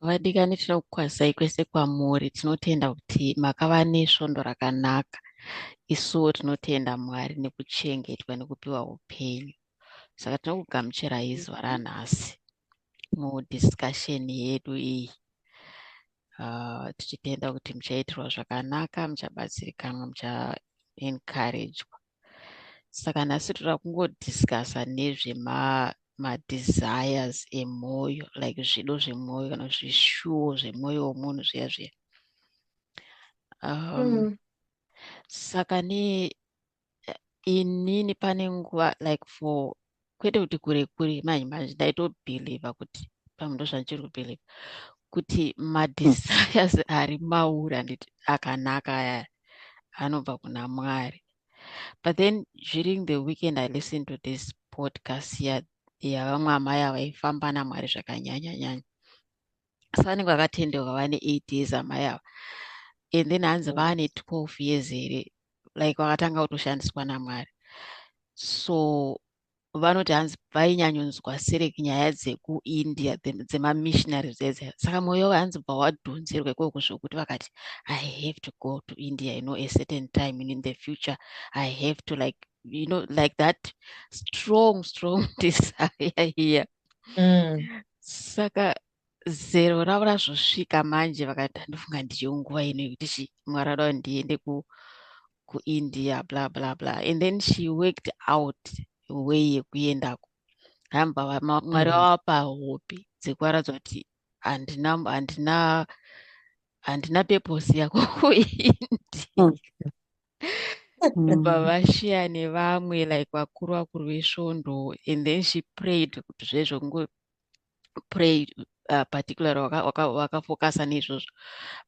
Vadikani tinokukwazisai kwese kwamuri tinotenda kuti makava nesvondo rakanaka isuwo tinotenda Mwari nekuchengetwa nekupiwa upenyu saka tinokugamuchirai zuva ranhasi mudiscussion yedu iyi uh, tichitenda kuti muchaitirwa zvakanaka muchabatsirikanwa muchaencouragwa saka nhasi toda kungodiscussa nezvema madesires emwoyo like zvido zvemwoyo kana zvishuwo zvemwoyo womunhu zviya zviya um, mm. saka ne inini pane nguva like for kwete kuti kure kure manje manje ndaitobhilivha kuti pamwe ndozvandichiri kubhilivha kuti madesires ari mauri anditi akanaka aya anobva kuna mwari but then during the weekend i listened to this podcast yavamwe amai avaifamba namwari zvakanyanya nyanya asi vanenge vakatendeuka vane eight years amai ava and then hanzi vane twelve years here like vakatanga kutoshandiswa namwari so vanoti hanzi vainyanyonzwa serek nyaya dzekuindia dzemamissionary dzedze saka mwoyo hanzi bva wadhonzerwa ikoko zvokuti vakati i have to go to india you know a certain time in the future i have to like you know like that strong strong desire here yeah. mm. saka zero ravo razvosvika manje vakati handifunga ndiyo nguva ino yekuti chi mwari adao ndiende ku kuindia bla bla bla and then she worked out way yekuendako hamba mwari mm. vavapa hope dzekuvaratidza kuti handina handina handina peposi yako kuindia mm. kubva mm. vashiya nevamwe like vakuru vakuru vesvondo and then she prayed kuti zvezvo kungo pray uh, particular wakafokasa neizvozvo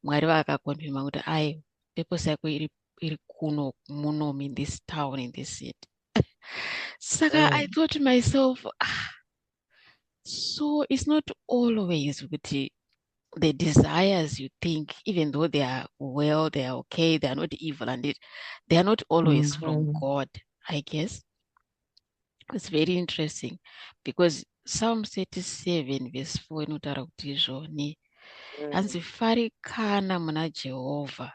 mwari vakakonfirma kuti ai purpose yako iri iri kuno muno in this town in this city saka mm. i thought myself ah, so it's not always kuti the desires you think even though they are well they are okay they are not evil and it, they are not always mm -hmm. from mm-hmm. god i guess it's very interesting because psalm 37 verse 4 inotaura kuti izvoni mm. hanzi farikana muna jehovha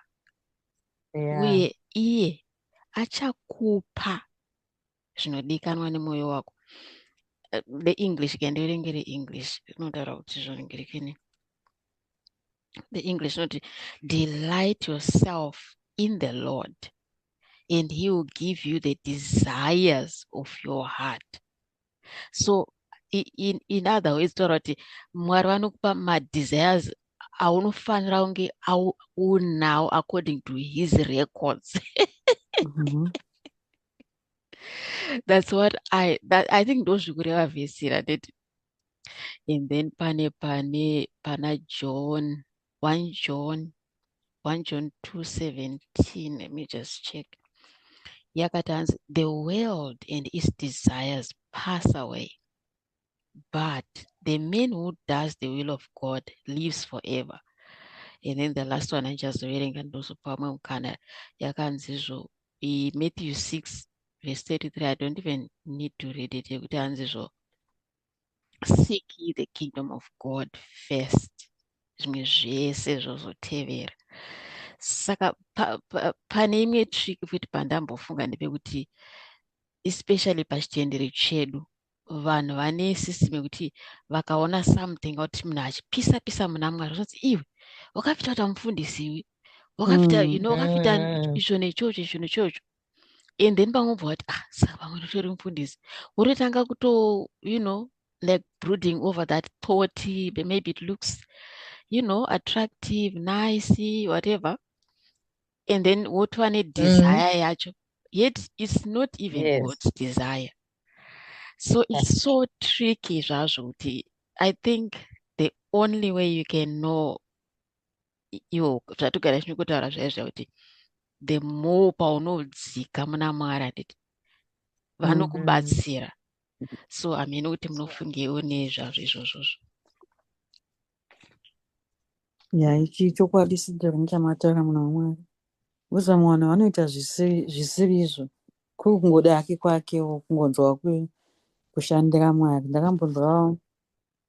uye iye achakupa zvinodikanwa nemwoyo wako the eh, english ke ndiverenge reenglish rinotaura kuti zvoringirekene the english not delight yourself in the lord and he will give you the desires of your heart so in, in other ways taura kuti mwari vanokupa madesires aunofanira kunge unawo according to his records mm -hmm. that's what i that, i think ndozvikureva vhesi ratete and then pane pane pana john one john one john 217 let me just check yakati hanzi the world and its desires pass away but the man who does the will of god lives forever and then the last one andichazoverenga ndozopa vamwe mukana yakanzizvo matthew 6 verse 33 i don't even need to read it yekuti anzizvo seek ye the kingdom of god first zvimwe zvese zvozotevera saka pane pa, pa, imwe trick futi pandambofunga ndepekuti especially pachitendero chedu vanhu vane system yekuti vakaona something kuti munhu achipisa pisa muna mwari zvinonzi iwe wakapita kuita mufundisi iwe wakapita mm, you know wakapita mm. izvo nechocho izvo nechocho and then pamwe ubva wati ah saka pamwe ndotori mufundisi wototanga kuto you know like brooding over that thought maybe it looks you know attractive nice whatever and then wotova nedesire mm. yacho yet it's not even yes. god's desire so it's so tricky zvazvo kuti i think the only way you can know iwo zvatogara zvino kutaura zvaya zviya kuti the more paunodzika muna mwari handiti vanokubatsira mm-hmm. so hamene kuti munofungewo nezvazvo izvozvozvo ya ichi chokwadi sidhori muchamatara muna mwari vozama vanhu vanoita zvisiri izvo kuri kungoda hake kwakewo kungonzwa kushandira mwari ndakambonzwawo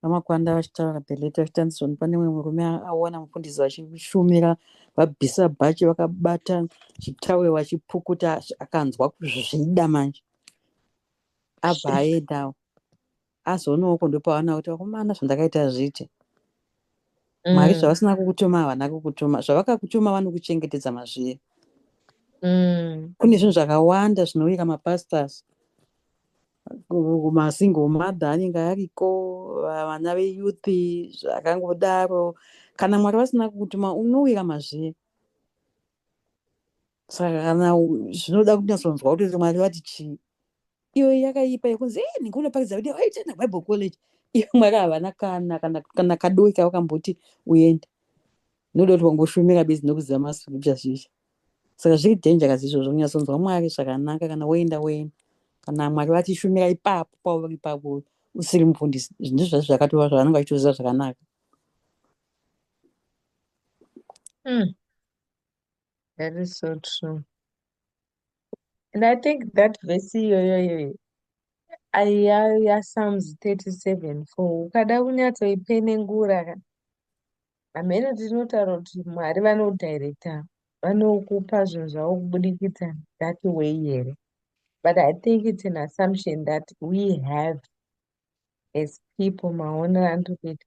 vamakwanda vachitaura beleti vachitanzisoni pane mwe murume aona mufundisi vachishumira vabvisa bhachi vakabata chitawe vachipukuta akanzwa kuzvida manje abva aendawo asi unooko ndopaona kuti vakomana zvandakaita zviite mwari mm. zvavasina kukutuma havana kukutuma zvavakakutuma vanokuchengetedza mazviye mm. kune zvinhu zvakawanda zvinouyika mapastors masingle mother anenge ariko vana veyouth zvakangodaro kana mwari vasina kukutuma unouyika mazviye saka kana zvinoda kunyatsonzwa kuti mwari vati chii iyo yakaipa yekunzi e nhingi unopakidza kuti waitenda bible college iyo mwari havana kana kana kana kadoki kavakamboti uende noda kuti wangoshumira bezi nokuziva mascripture zvisha saka zviri dhenja kazi izvozvo kunyatsonzwa mwari zvakanaka kana woenda woenda kana mwari vati shumira ipapo pauri ipapo usiri mufundisi ndizvo zvazvo zvakatova zvavanenge vachitoziva zvakanaka mm. That is so true. And I think that verse iyoyoyo aiya yaPsalms 37 for ukada kunyatsoipenengura ka hameno tinotaura kuti Mwari vanodirector vanokupa zvinhu zvavo kubudikidza that way here but I think it's an assumption that we have as people maonero anotokuita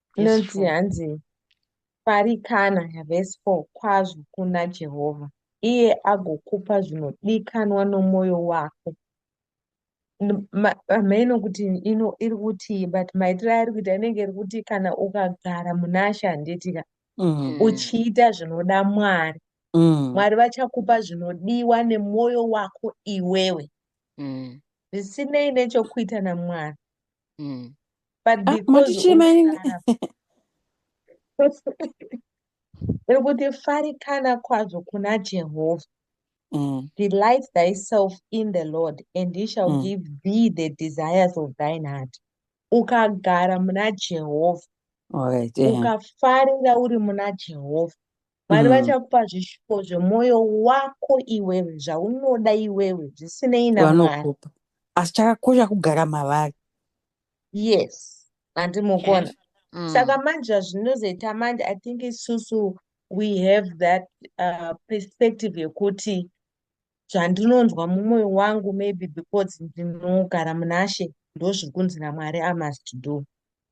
inonzi hanzi farikana vhesi 4 kwazvo kuna jehovha iye agokupa zvinodikanwa nomwoyo wako hameno kuti ino iri kutii but maitiro airi kuita inenge iri kuti kana ukagara munashe handitika mm. uchiita zvinoda mwari mm. mwari vachakupa zvinodiwa nemwoyo wako iwewe mm. zvisinei nechokuita namwari mm. but ah, because nekuti farikana kwazvo kuna jehovha mm. delight thyself in the lord and he shall mm. give thee the desires of thine heart ukagara muna jehovha ukafarira uri muna jehovha mwari mm. vachakupa zvishuwo zvemwoyo wako iwewe zvaunoda iwewe zvisinei namwari asi chakakosha kugara mavari yes handi mukona mm. saka manje zvinozoita manje i think isusu we have that uh, perspective yekuti zvandinonzwa mumwoyo wangu maybe because ndinogara munashe ndozviri kunzi namwari i must do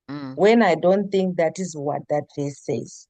mm. when i don't think that is what that verse says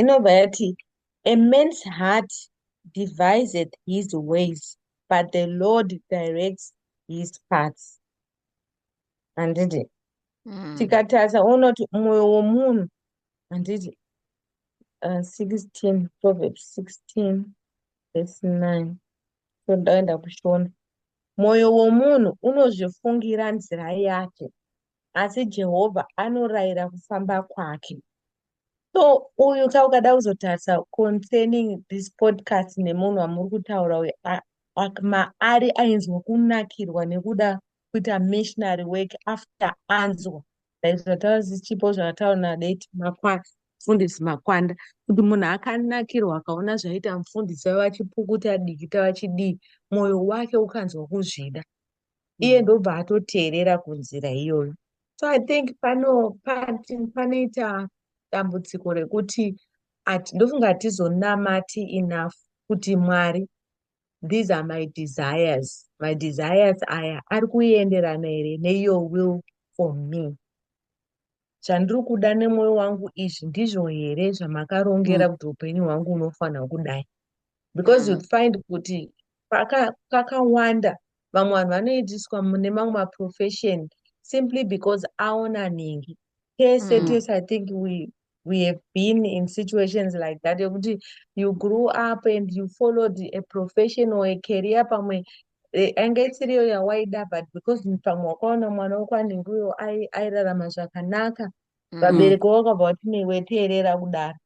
inobva yati a man's heart deviseth his ways but the lord directs his paths handiti mm. tikatarisa uona kuti mwoyo womunhu handiti uh, 16 proverbs 16 verse 9 so ndaenda kushona mwoyo womunhu unozvifungira nzira yake asi Jehovha anorayira kufamba kwake. So uyu ka ukada kuzotarisa concerning this podcast nemunhu wamuri kutaura uyu maari ainzwa kunakirwa nekuda kuita missionary work after anzwa like zvataura zvichipo zvakataura nadate makwanda mufundisi makwanda kuti munhu akanakirwa akaona zvaita mufundisi vavachipukuta dikita vachidii mwoyo wake ukanzwa kuzvida iye mm. ndobva atoteerera kunzira iyoyo so i think pano panoita dambudziko rekuti ndofunga hatizonamati enough kuti mwari these are my desires my desires aya ari kuenderana here neiyo will for me zvandiri kuda nemwoyo wangu izvi ndizvo here zvamakarongera mm. kuti upenyu hwangu unofanira kudai because mm. you find kuti kakawanda vamwe vanhu vanoitiswa mune mamwe maprofession simply because aona ningi tese mm. tese i think we we have been in situations like that yekuti you grew up and you followed a profession or a career pamwe Eh, yanga isiriyo yawaida but because pamwe wakaona mwana wako anenge uyo ai- airarama zvakanaka Mm. vabereki vavo vakabva vati newe teerera kudaro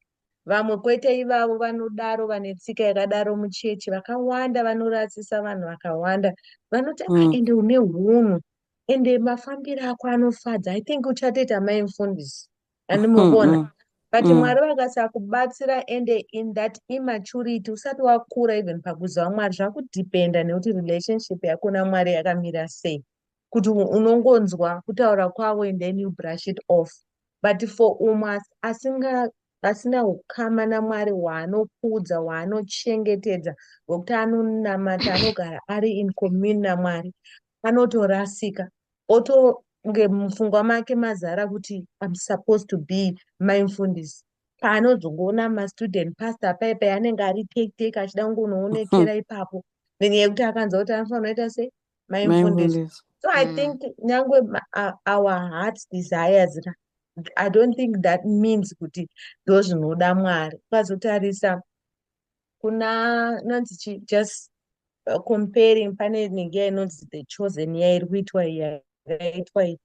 vamwe kwete ivavo vanodaro vane tsika yakadaro muchechi vakawanda vanorasisa vanhu vakawanda vanoti ah Mm. ende une hunhu ende mafambiro ako anofadza i think uchatoita mai mfundisi and muvona mm -hmm. but mm. mwari vakasakubatsira ende in that immaturity usati wakura even pakuziva mwari zvakudependa nekuti relationship yako namwari yakamira sei kuti unongonzwa kutaura kwavo and then you brush it off but for umwe asinga asina ukama namwari waanokudza waanochengetedza wekuti anonamata anogara ari in commune namwari anotorasika otonge mupfungwa make mazara kuti im supposed to be mai mfundisi paanozongoona mastudent pastor paipa anenge ari take take achida kungonoonekera ipapo nenyaya yekuti akanza kuti anofanira ita sei mai mfundisi so i mm. think nyange our hearts desires ra i don't think that means kuti ndozvinoda mwari ukazotarisa kuna nonzi chi just uh, comparing pane inenge yainonzi the chosen yairi kuitwa yakaitwa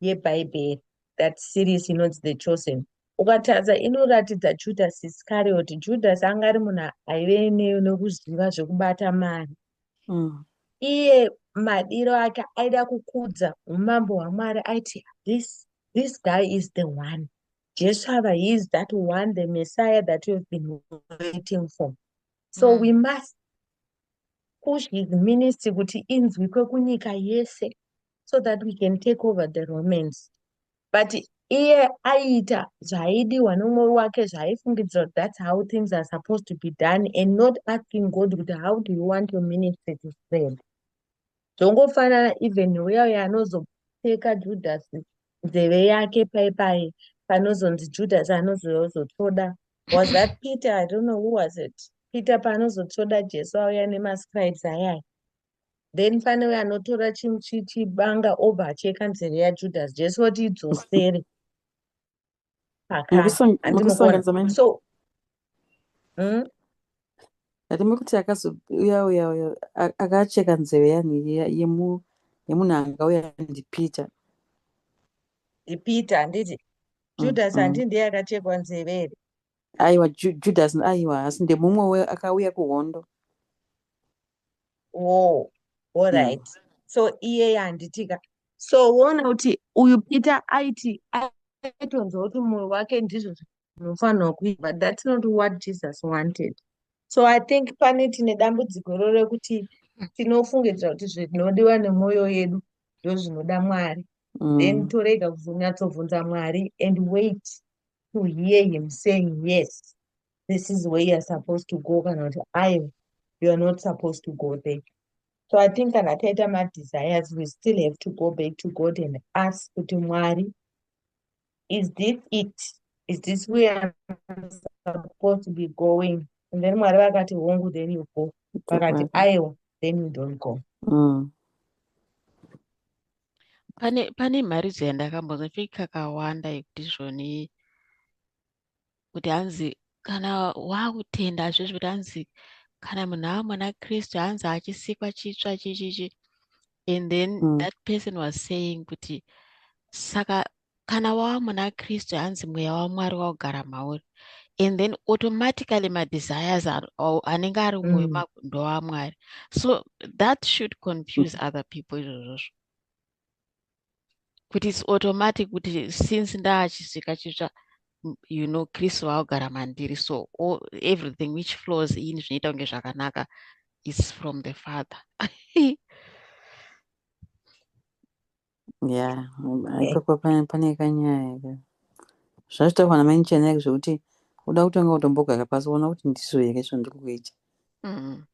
yebhaibheri that series inonzi the chosen ukatadza inoratidza judas iscariot judas anga ari munhu aive nekuziva zvekubata mari mm. iye madiro ake aida kukudza umambo hwamwari aiti this this guy is the one Jesu ava he is that one the messiah that you've been waiting for so mm. we must push his ministry kuti inzwikwe kunyika yese so that we can take over the romans but iye aiita zvaaidiwa nomwoyo wake zvaaifungidzira kuti that's how things are supposed to be done and not asking god kuti how do you want your ministry to spread zvongofanana even uya uya anozopfeka judhasi nzeve yake pai pai panozonzi judhasi anozozotoda was that peter i don't know who was it peter paanozotoda jesu auya nemascribes ayaya then pane uya anotora chibanga obva acheka nzeve yajudhasi jesu oti idzosere so hmm? ndime kuti akazouya uya uya akacheka nzeve yanhu yemunhu anga uya ndipeter ndipeter handiti mm, judas handi mm. ndiye akachekwa nzeve here aiwa judas aiwa asi ndemumwe we akauya kuhondo wo alright mm. so iye yanditika so woona kuti uyu peter aiti aitonzwa kuti mwoyo wake ndizvo zvinofanirwa kuita but that's not what jesus wanted so i think pane tine dambudziko iro rekuti tinofungidzira kuti zvinodiwa nemwoyo yedu ndozvinoda mwari mm. then torega kuzonyatsovhunza mwari and wait to hear him saying yes this is where youare supposed to go kana kuti ayo youare not supposed to go there so i think kana taita madesires we still have to go back to god and ask kuti mwari is this it is this where I'm supposed to be going and then mwari vakati hongu then you go vakati mm-hmm. aiwa then you don't go mm. pane pane mharidzo yandakambonzwa choi kakawanda yekuti zvoni kuti hanzi kana waakutenda hazvizvi kuti hanzi kana munhu ava mwana kristu hanzi achisikwa chitsva chichichi and then mm. that person was saying kuti saka kana wava muna kristu hanzi mweya wamwari waugara mauri and then automatically madesires anenge ari mwoyo mm. mako ndowamwari so that should confuse mm. other people izvozvozvo kuti its automatic kuti since ndaachisvika chitsva you know kristu vaogara mandiri so all, everything which flows in zvinoita kunge zvakanaka is from the father ya ipapo pane kanyaya ka zvazvitaurwa namai chenai zvekuti uda kutanga utombogara pasi uona kuti ndizvo here zvandiri kuita mm.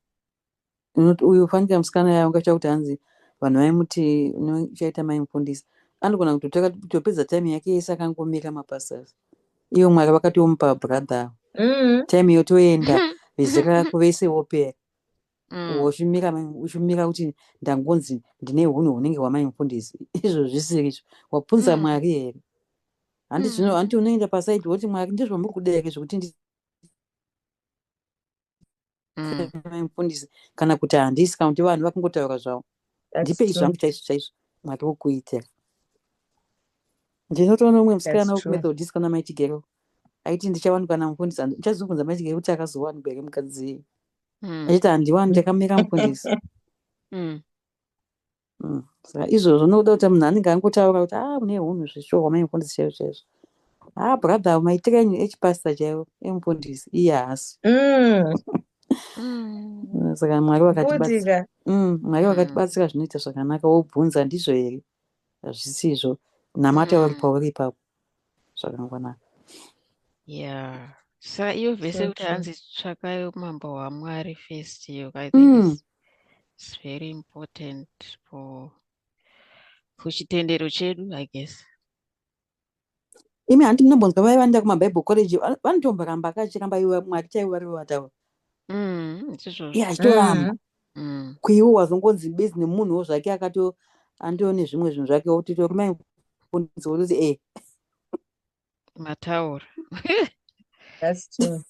Unoti uyu fanika musikana yaya ungatya kuti hanzi vanhu vaimuti uchaita mai mufundisi. Anogona kutotora kutopedza time yake yese akangomirira mapastors. Iyo Mwari vakatomupa brother ava. Mm. Time yotoenda vese rako vese wopera. Mm. Wochimira mai- uchimira kuti ndangonzi ndine hunhu hunenge hwamai mufundisi. Izvo zvisiri izvo. Wabvunza Mm. Mwari here? Handi Mm. zvino handi unoenda paside woti Mwari ndizvo muri kuda here zvekuti ndi mm. mufundisi kana kuti handisi kana kuti vanhu vakungotaura zvavo ndipei zvangu chaizvo chaizvo mwari wokuitira ndinotoona umwe musikana wekumethodist kana maitigero aiti ndichawanikwa namufundisi ndichazobvunza maitigero kuti akazowanikwa here mukadzi mm. achiti handiwani ndakamira mufundisi mm. Mm. Saka izvozvo ndokuda kuti munhu anenge angotaura kuti ah mune hunhu zveshuwa wamaimufundisi chaizvo chaizvo. Ah brother maitire enyu echipasita chaiwo emufundisi iye haasi. Mm. Mm, Saka Mwari vakatibatsira. Budika. Mm, Mwari Mm. vakatibatsira zvinoita zvakanaka wobvunza ndizvo here hazvisizvo namata uri Mm. pauri ipapo. zvakangwanaka yeah sa iyo vese kuti hanzi tsvakai umambo hwamwari first iyo i think mm. it's very important for for chitendero chedu i guess imi hanti munombonzwa vaya vanoenda kumabible college vanotomboramba kachiramba iwe mwari chaivo vari vataura mm, yeah chitoramba mm. mm. kuiwe wazongonzi busy nemunhuwo zvake akato andiwo nezvimwe zvinhu zvake wotito kumai kundisi wototi e eh. mataura That's true.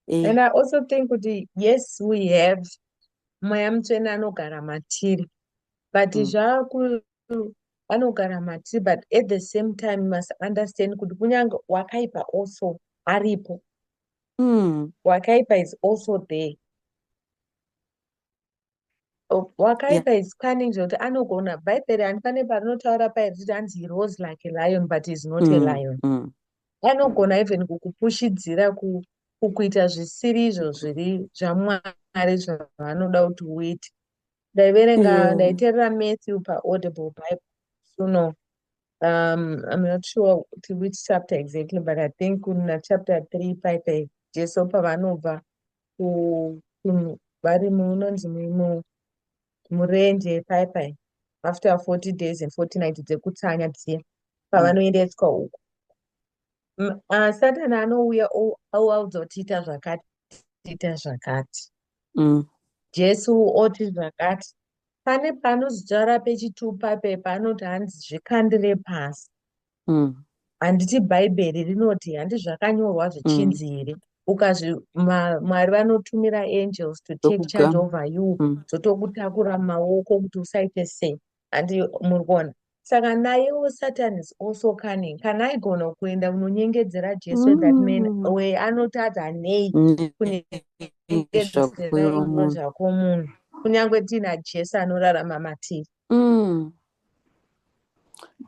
Eh. and i also think kuti yes we have mweya mutsvene anogara matiri but mm. zvaku anogara matiri but at the same time must understand kuti kunyange wakaipa also aripo Mm. Wakaipa is also there. Oh, wakaipa yeah. is cunning zvekuti anogona bhaibheri handifane parinotaura paye richiti hanzi he rose like a lion but is not mm. a lion mm. anogona even kukupushidzira ku, kukuita zvisiri izvo zviri zvamwari zvavanoda kuti uite ndaiverenga ndaiterera matthew paaudible bible suno um i'm not sure to which chapter exactly but i think kuna chapter three paipe jesu pavanobva vari munonzi murenje paipai after forty days and forty night dzekutsanya dziya pavanoendeswa uku uh, satani anouya oaudza kuti ita zvakati ita zvakati mm. jesu oti zvakati pane paanozitaura pechitupa pepa anoti hanzi zvikandire pasi mm. handiti mm. bhaibheri rinoti handi zvakanyorwa mm. zvichinzi here mm. ukazvi mwari vanotumira angels to take charge over you mm. dzotokutakura mm. maoko kuti usaite sei handi muri kuona saka nayewo satan is also cunning kana aigona kuenda kunonyengedzera jesu mm. that man mm. we anotadza nei kunezvako munhu kunyange tiina jesu anorarama matiri mm.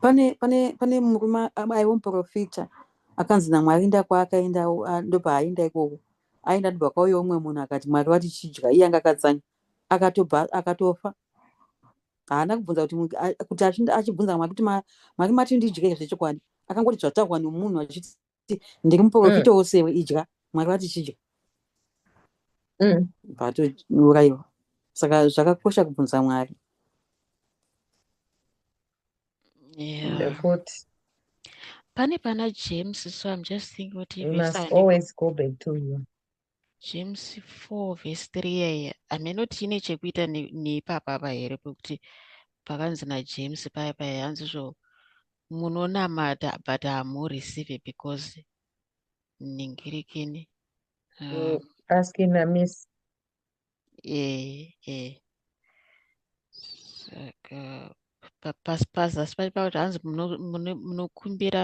pane pane pane murume aiwo muprofita akanzi namwari ndakwaakaenda ndopaaenda ikoko aenda ndibva kwauyo umwe munhu akati mwari vati chidya iye anga akatsanya akatofa haana kubvunza kuti kuti achibvunza kamwe kuti maki mati ndidye izvi chokwadi akangoti zvataurwa nemunhu achiti ndiri muprofita mm. wosewe idya mwari vati chidya mm. vatouraiwa saka zvakakosha kubvunza mwari pane pana james so im just thinking kuti James 4 vhesi 3 yaiya hameno kuti ine chekuita neipapa apa here pekuti pakanzi najames paya paya hanzi zvo munonamata but hamureceive because ningirikini um, mm, asking a miss ee ee saka pasi pasi asi pacho pakuti hanzi munokumbira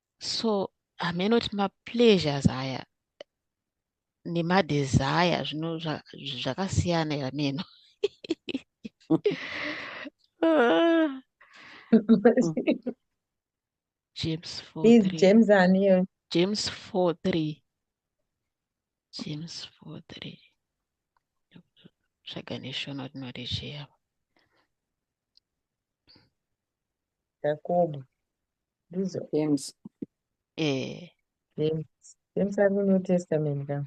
so hameno kuti mapleasures aya nemadesire zvino zvakasiyana zva, hameno james four james aniyo james four three james four three tsvaga neshona tinoti chiyava Jakobo. Ndizo. James. Eh. James. James ari muNew Testament ka?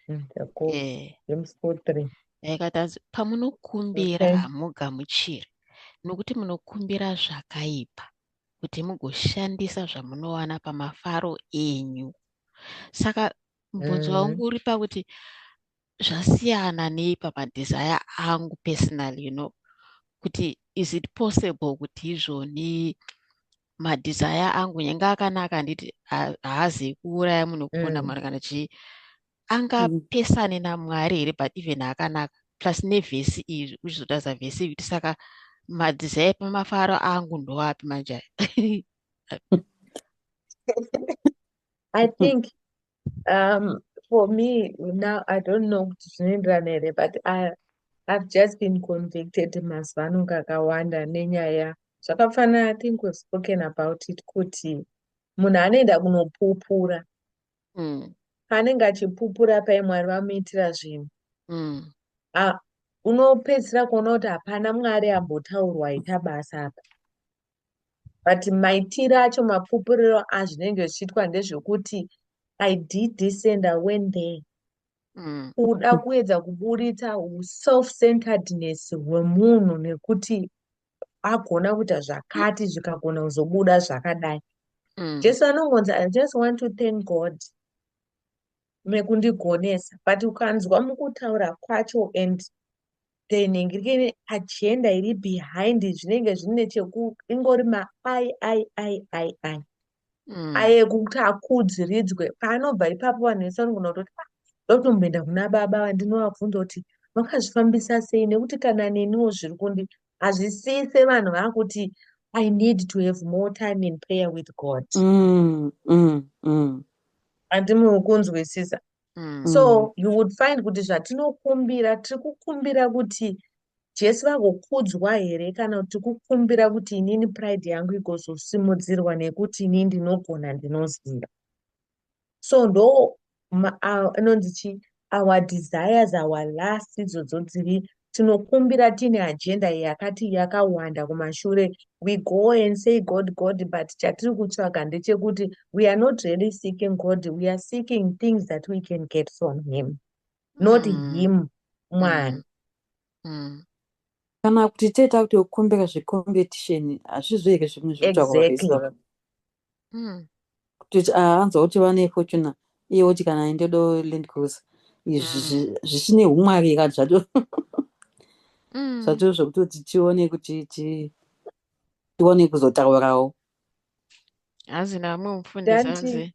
Mm, Jakobo. Eh. James 4:3. Yaikatadza pamunokumbira okay. hamugamuchiri nokuti munokumbira zvakaipa kuti mugoshandisa zvamunowana pamafaro enyu. Saka mubvunzo mm. wangu uri pakuti zvasiyana nei pamadesire angu personal you know kuti is it possible kuti izvoni madesire angu nyange akanaka handiti haazi kuuraya munhu kuponda mm. mwari kana chii angapesane mm. namwari here but even akanaka plus nevhesi iri uchizotaza vhesi iri kuti saka madzizai pamafaro angu ndowapi manje i think um, for me now i don't know kuti zvinoenderana here but I, i've just been convicted mazuva ano kakawanda nenyaya zvakafanana i think we've spoken about it kuti munhu anoenda kunopupura mm. paanenge achipupura pai mwari vamuitira zvinhu mm. unopedzisira kuona kuti hapana mwari ambotaurwa ita basa apa but maitiro acho mapupuriro azvinenge zvichiitwa ndezvekuti i did this and i went there mm. kuda kuedza kuburitsa self centeredness hwemunhu nekuti agona kuita zvakati zvikagona kuzobuda zvakadai mm. jesu anongonzi i just want to thank god mekundigonesa but ukanzwa mukutaura kwacho and then inenge iri agenda iri behind zvinenge zvine cheku ingori ma i i i i i mm. aye kuti akudziridzwe paanobva ipapo vanhu vese vanogona kutoti ah, ndotomboenda kuna baba vandinovabvunza kuti vakazvifambisa sei nekuti kana neniwo zviri kundi hazvisise vanhu vakuti i need to have more time in prayer with god mm, mm, mm. andi mukunzwisisa mm. so you would find kuti zvatinokumbira tiri kukumbira kuti jesu vagokudzwa here kana kuti kukumbira kuti inini pride yangu igozosimudzirwa nekuti inini ndinogona ndinoziva so ndo anonzi chii our desires our last idzodzo dziri tinokumbira tiine agenda yakati yakawanda kumashure we go and say god god but chatiri kutsvaga ndechekuti we are not really seeking god we are seeking things that we can get from him not mm. him mwana mm. mm. kana kuti tee takuti kukumbira zvecompetition hazvizvo here zvimwe zvekutsvaka mm. kuti ah, anzwa kuti vane fortuna iye woti kana ini ndodo land cruiser izvi mm. zvichine umwari kani zvato mm. zvato zvekutoti tione kuti tione kuzotaurawo hazina mumfundisi anzi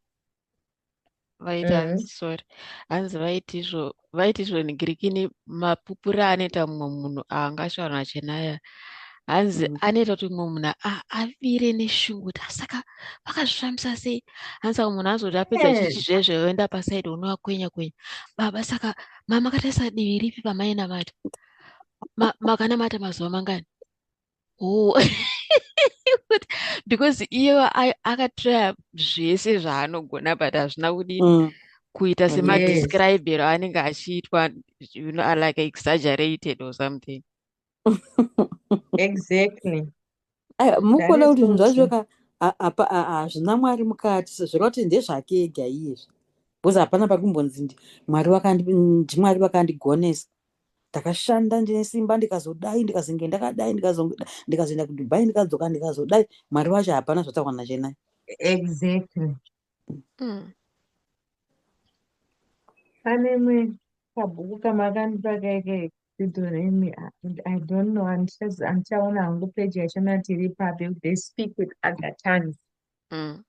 vaiti mm. hanzi sorry hanzi vaiti izvo vaiti izvo negirikini mapupuri anoita mumwe munhu aangashaurana chenaya hanzi mm. anoita kuti mumwe munhu avire neshungu kuti asaka vakazvifambisa sei hanzi saka munhu anozoti apedza eh. chichi zvezve oenda pasaidi unova kwenya kwenya baba saka mama kataisa divi ripi pamaina mati makanamata mazuva mangani oh because iye akatraya zvese zvaanogona but hazvina kudini mm. kuita semadescribero yes. anenge achiitwa you know, like exaggerated or something exactly mukona kuti zvinhu zvacho ka hazvina mwari mukati sezvira kuti ndezvake ega iyezvi bcause hapana pakumbonzi mwari ndimwari vakandigonesa ndakashanda ndine simba ndikazodai ndikazenge ndakadai ndikazoenda kudubai ndikadzoka ndikazodai mwari vacho hapana zvataurwa nachenai exactly mm. pane imwe kabhuku kamakandipa kaike zidhoremi i don't know andichaona hangu peji yacho nati iri papi they speak with other tongues mm.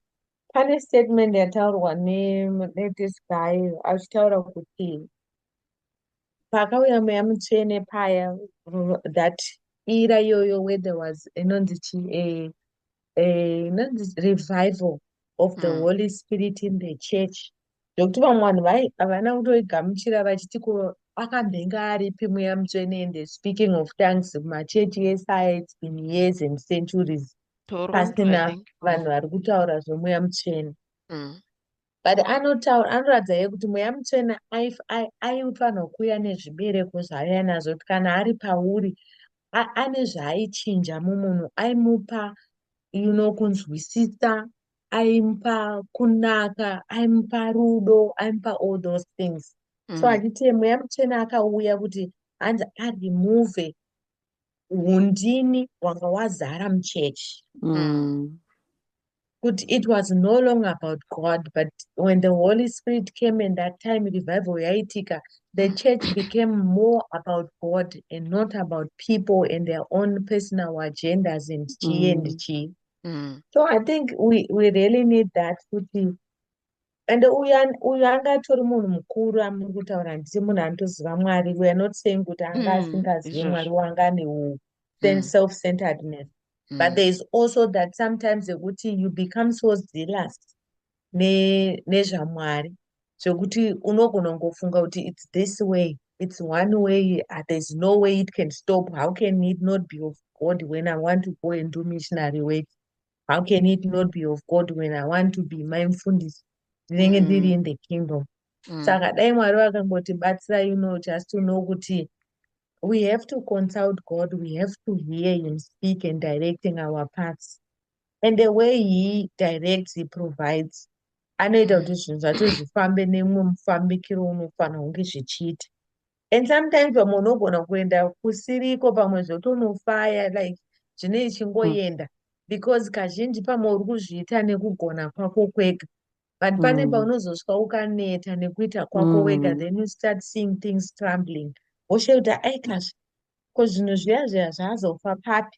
Pane statement yataurwa neThis guy achitaura kuti pakauya mweya mutsvene paya that ira iyoyo where there was inonzi chi eh, eh, inonzi revival of the mm. holy spirit in the church nekuti vamwe vanhu vai havana kutoigamuchira vachiti ko akambenge aripi mweya mutsvene and speaking of tanks machechi ese aya its been years and centuries pasina vanhu vari kutaura zvemweya mutsvene mm. but anotaura anoratidza ye kuti mweya mutsvene aifanirwa kuuya nezvibereko zvaaiya nazvo kuti kana ari pauri ane zvaaichinja mumunhu aimupa you know kunzwisisa aimupa kunaka aimupa rudo aimupa all those things mm. so handiti mweya mutsvene akauya kuti hanzi aremove undini wanga wazara muchechi mm. kuti it was no longer about god but when the holy spirit came and that time revival yaitika the church became more about god and not about people and their own personal agendas and chii mm. and chii mm. so i think we, we really need that kuti and uyu uyu anga atori munhu mukuru amuri kutaura handiti munhu anotoziva mwari weare not saying kuti anga mm, asingazivi mwari wanga ane u mm. self centeredness mm. but there is also that sometimes yekuti you become so zealous nezvamwari ne zvekuti unogona kungofunga kuti its this way its one way ah, there's no way it can stop how can it not be of god when i want to go and do missionary work how can it not be of god when i want to be my mfundisi ndinenge mm. ndiri in the kingdom mm. saka dai mwari vakangotibatsira you know just to know kuti we have to consult god we have to hear him speak and directing our paths and the way he directs he provides anoita kuti zvinhu zvacho zvifambe nemumwe mufambikiro unofanira kunge zvichiita and sometimes vamwe unogona kuenda kusiriko pamwe zvotonofaya like zvine ichingoenda mm. because kazhinji pamwe uri kuzviita nekugona kwako kwega but pane mm. paunozosvika ukaneta nekuita kwako wega mm. then you start seeing things crumbling woshe kuti aikazvi ko zvinhu zviya zviya zvazofa papi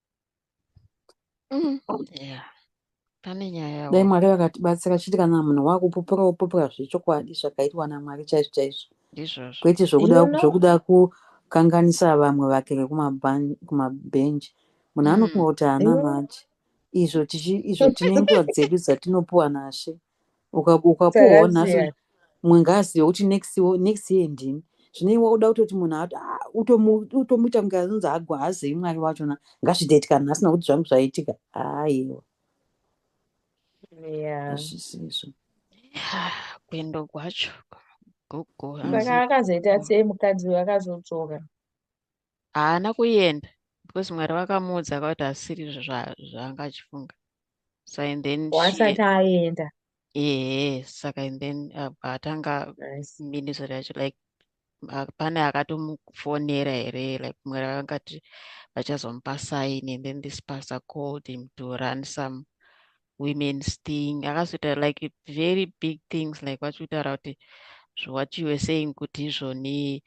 Mm. Yeah. Pane nyaya. Dai Mwari vakatibatsira chiti kana munhu wakupupura wopupura zvechokwadi zvakaitwa naMwari chaizvo chaizvo. Ndizvozvo. Kwete zvokuda you know? zvokuda kukanganisa vamwe vake vekumabhenji. Munhu mm. anofunga kuti haana mm. manje. Izvo tichi izvo tine nguva dzedu dzatinopuwa naShe. ukapuwawo nhasi mumwe ngaazive kuti next next year ndini zvine iwe uda kutoti munhu ah, utomuita kunge anonzi agwa haazei mwari wachona ngazvitoiti kana asina kuti zvangu zvaitika aiwa azvisizvo kuendo kwacho gogo saka akazoita sei mukadzi uyo akazodzoka haana kuenda because mwari vakamuudza akakuti asiri zvaanga achifunga sa and then wasati aenda ehe saka and then atanga ministry yacho like pane akatomufonera here like mwari vakangati vachazomupa sign and then this pastor called him to run some women's thing akazoita like very big things like vachikutaura kuti what you were saying kuti izvoni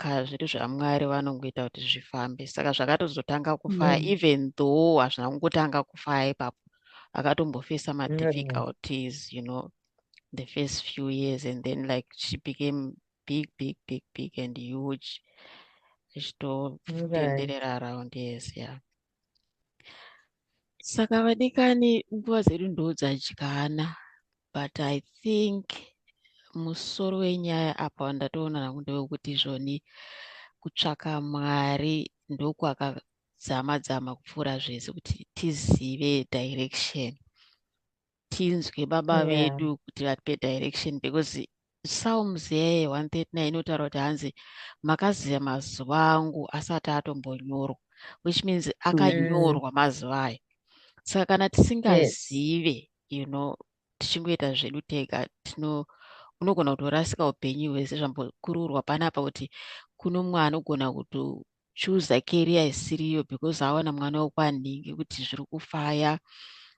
kazviri zvamwari vanongoita kuti zvifambe saka zvakatozotanga kufaya mm. even though hazvina kungotanga kufaya ipapo akatombofesa madifficulties you know the first few years and then like she became big big big big and huge ichitotenderera around yes yeah saka vadikani nguva dzedu ndo dzadyana but i think musoro wenyaya apa wandatoona nangu ndewekuti izvoni kutsvaka mwari ndokwakadzama dzama kupfuura zvese kuti tizive direction tinzwe baba yeah. vedu kuti vatipe direction because psalms yeye 139 inotaura kuti hanzi makaziva mazuva angu asati atombonyorwa which means akanyorwa mm. mazuva ayo saka kana tisingazive yes. you know tichingoita zvedu tega tino unogona kutorasika upenyu hwese zvambokururwa panapa kuti kuno mwana ogona kuto chooser career isiriyo because aona mwana wekwanhingi kuti zviri kufaya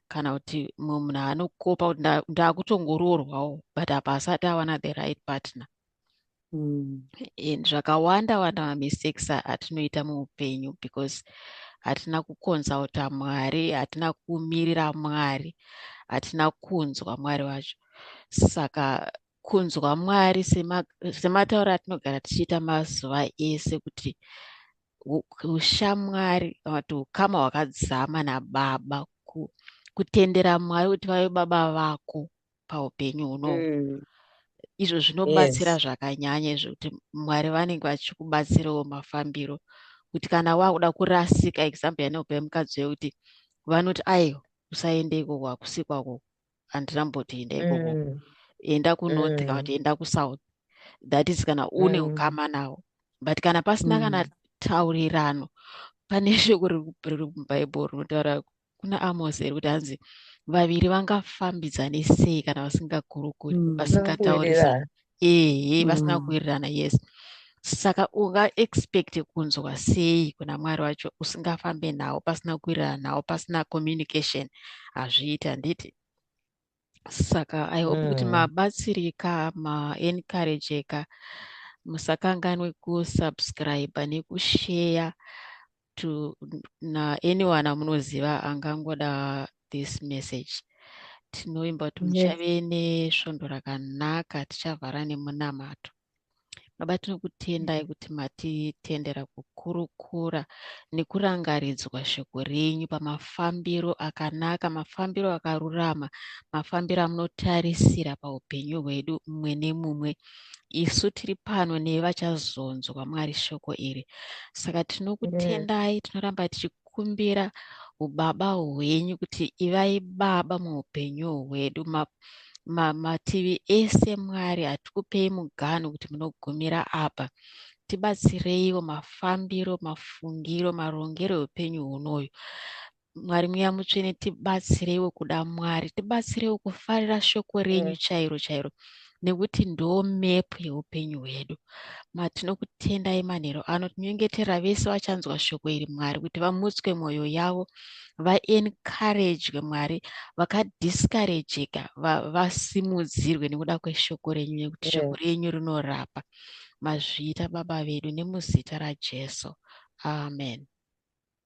kana kuti mumwe munhu anokopa kuti ndakutongoroorwawo but apa asati awana the right partner mm. and zvakawanda wanda mamistakes atinoita muupenyu because hatina kuconsulta mwari hatina kumirira mwari hatina kunzwa mwari wacho saka kunzwa mwari sematauro atinogara tichiita mazuva ese kuti ushamwari kana kuti ukama hwakadzama nababa kutendera mwari kuti vave baba vako paupenyu huno mm. izvo zvinobatsira yes. zvakanyanya izvo kuti mwari vanenge vachikubatsirawo mafambiro kuti kana wakuda kurasika example yanopa mukadzi wekuti vanoti aiwa usaende ikoko hakusi kwako handina mbotoenda ikoko mm. enda kunorth kana mm. kuti enda kusouth that is kana une mm. ukama mm. nawo but kana pasina mm. kana taurirano pane shoko riri mubhaibheri rinotaura kuna amos iri kuti hanzi vaviri vangafambidzane sei kana vasingagurukuri mm, vasingataurisa ehe vasina mm. kuwirirana yes saka ungaexpecte kunzwa sei kuna mwari wacho usingafambe nawo pasina kuwirirana nawo pasina communication hazviiti handiti saka i hope kuti mm. mabatsirika maencourageka musakanganwe kusubscribe nekusheya to na anyone amunoziva angangoda this message tinoimba kuti muchave nesvondo rakanaka tichavhara nemunamato baba tinokutendai mm. kuti matitendera kukurukura nekurangaridzwa shoko renyu pamafambiro akanaka mafambiro akarurama mafambiro amunotarisira paupenyu hwedu mumwe nemumwe isu tiri pano neve vachazonzwa mwari shoko iri saka tinokutendai tinoramba tichikumbira ubaba hwenyu kuti ivai baba muupenyu hwedu mativi ma, ma ese mwari hatikupei mugano kuti munogumira apa tibatsireiwo mafambiro mafungiro marongero eupenyu hunoyu Mwari mweya mutsvene tibatsireiwo kuda Mwari, tibatsireiwo kufarira shoko renyu mm. chairo chairo nekuti ndo map yeupenyu hwedu matinokutendai manhero ano tinyengetera vese vachanzwa shoko iri mwari kuti vamutswe mwoyo yavo vaencouragwe mwari vakadiscourageka vasimudzirwe va nekuda kweshoko renyu nekuti shoko mm. renyu rinorapa mazviita baba vedu nemuzita rajesu amen